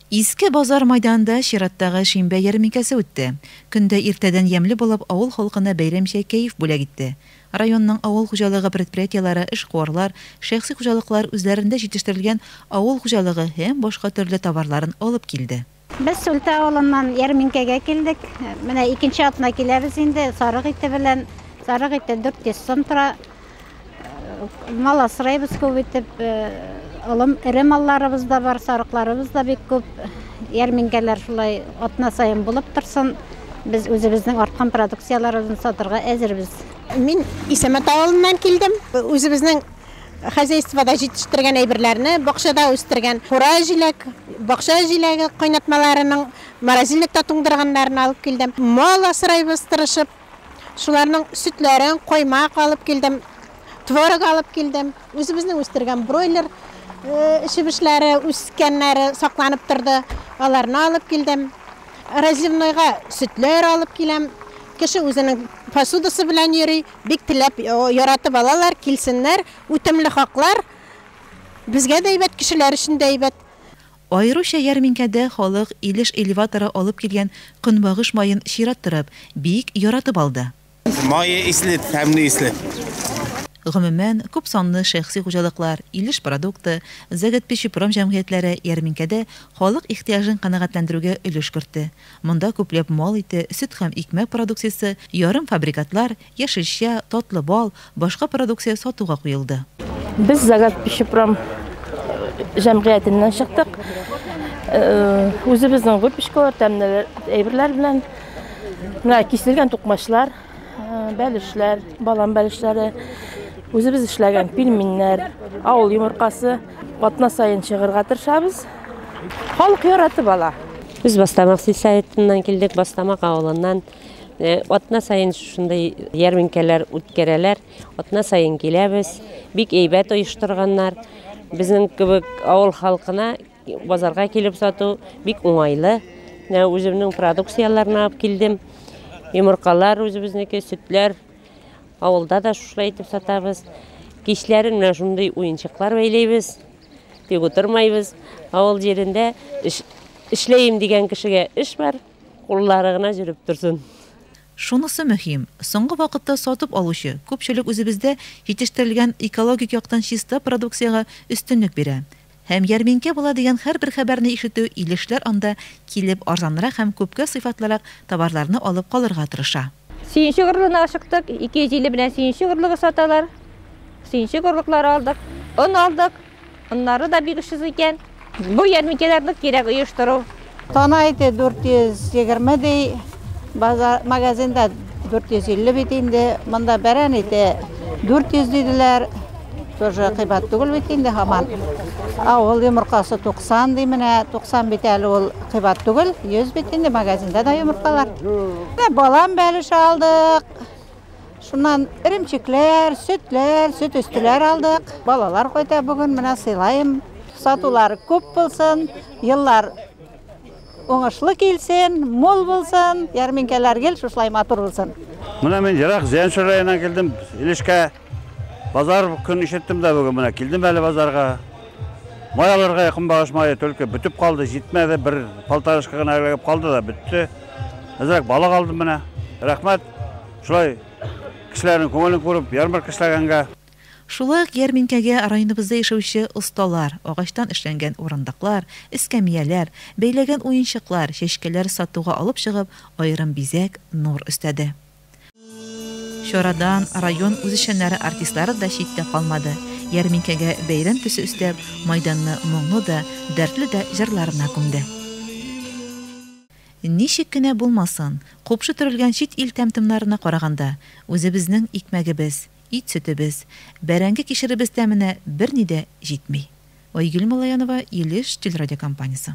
Иске Базар мәйданында чираттагы шимбә ярминкәсе үтте. Көн дә иртәдән ямьле булып, авыл халкына бәйрәмчә кәеф бүләк итте. Районның авыл хуҗалыгы предприятиеләре, эшкуарлар, шәхси хуҗалыклар үзләрендә җитештерелгән авыл хуҗалыгы һәм башка төрле товарларын алып килде. Без Сөлтә авылыннан ярминкәгә килдек. Менә икенче атна киләбез инде. Сарык ите белән. Сарык ите 400 сум тора. Мал асрайбыз күп итеп. Олым эре малларыбыз да бар, сарыкларыбыз да бик күп. Ярминкәләр шулай атна саен булып торсын. Без үзебезнең арткан продукцияләребезне сатырга әзербез. Мин Исәмәт авылыннан килдем. Үзебезнең хозяйствода җитештергән әйберләрне, бакчада үстергән кура җиләк, бакча җиләге кайнатмаларының морозильникта туңдырганнарын алып килдем. Мал асрайбыз тырышып. Шуларның сөтләрен, каймак алып килдем, творог алып килдем. Үзебезнең үстергән бройлер чебешләре, үскәннәре сакланып торды. Аларны алып килдем. Разливнойга сөтләр алып киләм. Кеше үзенең посудасы белән йөри. Бик теләп, яратып алалар, килсеннәр. Үтемле хаклар. Безгә дә әйбәт, кешеләр өчен дә әйбәт. Аеруча ярминкәдә халык Илеш элеваторы алып килгән көнбагыш маен чират торып, бик яратып алды. Мае исле, тәмле исле. Гомумән, күп санлы шәхси хуҗалыклар, Илеш продукты, Заготпечепром җәмгыятьләре ярминкәдә халык ихтыяҗын канәгатьләндерүгә өлеш кертте. Монда күпләп мал ите, сөт һәм икмәк продукциясе, ярымфабрикатлар, яшелчә, татлы бал, башка продукция сатуга куелды. Без Загак пищепром җәмгыятеннән чыктык. Үзебезнең выпечкалар, тәмле әйберләр белән. Менә киселгән тукмачлар, бәлешләр, балан бәлешләре, үзебез эшләгән пельменнәр, авыл йомыркасы. Атна саен чыгырга тырышабыз. Халык яратып ала. Без Бастамак сельсоветыннан килдек, Бастамак авылыннан. Э, атна саен шушындай ярминкәләр үткәрәләр. Атна саен киләбез. Бик әйбәт оештырганнар. Безнең кебек авыл халкына базарга килеп сату бик уңайлы. Үземнең продукцияләрне алып килдем. Йомыркалар үзебезнеке, сөтләр. Авылда да шушылай итеп сатабыз. Кичләрен менә шундый уенчыклар бәйләйбез. Тик утырмайбыз. Авыл җирендә эш, эшләем дигән кешегә эш бар, куллары гына җөреп торсын. Шунысы мөһим, соңгы вакытта сатып алучы күпчелек үзебездә җитештерелгән экологик яктан чиста продукциягә өстенлек бирә. Һәм ярминкә була дигән һәрбер хәбәрне ишетү Илешләр анда килеп арзанрак һәм күпкә сыйфатлырак товарларны алып калырга тырыша. Сөенчек орлыгына ашыктык, 250 белән сөенчек орлыгы саталар. Сөенчек орлыклары алдык, он алдык, оннары да бик очсыз икән. Бу ярминкәләрне кирәк оештыру, Тана ите 420 ди, базар магазинда 450 бит инде. Монда бәрән ите 400 диделәр. Тоже кыйбат түгел бит инде һаман. Авыл йомыркасы 90 ди менә, 90 бит әле ул кыйбат түгел, 100 бит инде магазинда да йомыркалар. Балан бәлеше алдык. Шуннан эремчекләр, сөтләр, сөт өстеләр алдык. Балалар кайта бүген, менә сыйлаем. Сатулар күп булсын, еллар уңышлы килсен, мул булсын, ярминкәләр гел шушылай матур булсын. Менә мин ерак Зәнчүр районыннан килдем, Илешкә. Базар көн ишеттем дә бүген менә килдем әле базарга. Май алырга якын багыш мае только бөтеп калды, җитмәде, бер полторашка гына эләгеп калды да бетте. Әзрәк балык алдым менә. Рәхмәт. Шулай кешеләрнең күңелен күреп, ярмарка эшләгәнгә. Шулай ук ярминкәгә районыбызда яшәүче осталар агачтан эшләнгән урындыклар, эскәмияләр, бәйләгән уенчыклар, чәчкәләр сатуга алып чыгып, аерым бизәк, нур өстәде. Чарадан район үзешчәннәре артистлары да читтә калмады, ярминкәгә бәйрәм төсе өстәп, мәйданны моңлы да, дәртле дә җырларына күмде. Ничек кенә булмасын, купшы төрелгән чит ил тәм-томнарына караганда, үзебезнең икмәгебез, ит-сөтебез, бәрәңге-кишеребез тәменә берни дә җитми. Айгөл Малаянова, Илеш телерадиокомпаниясе.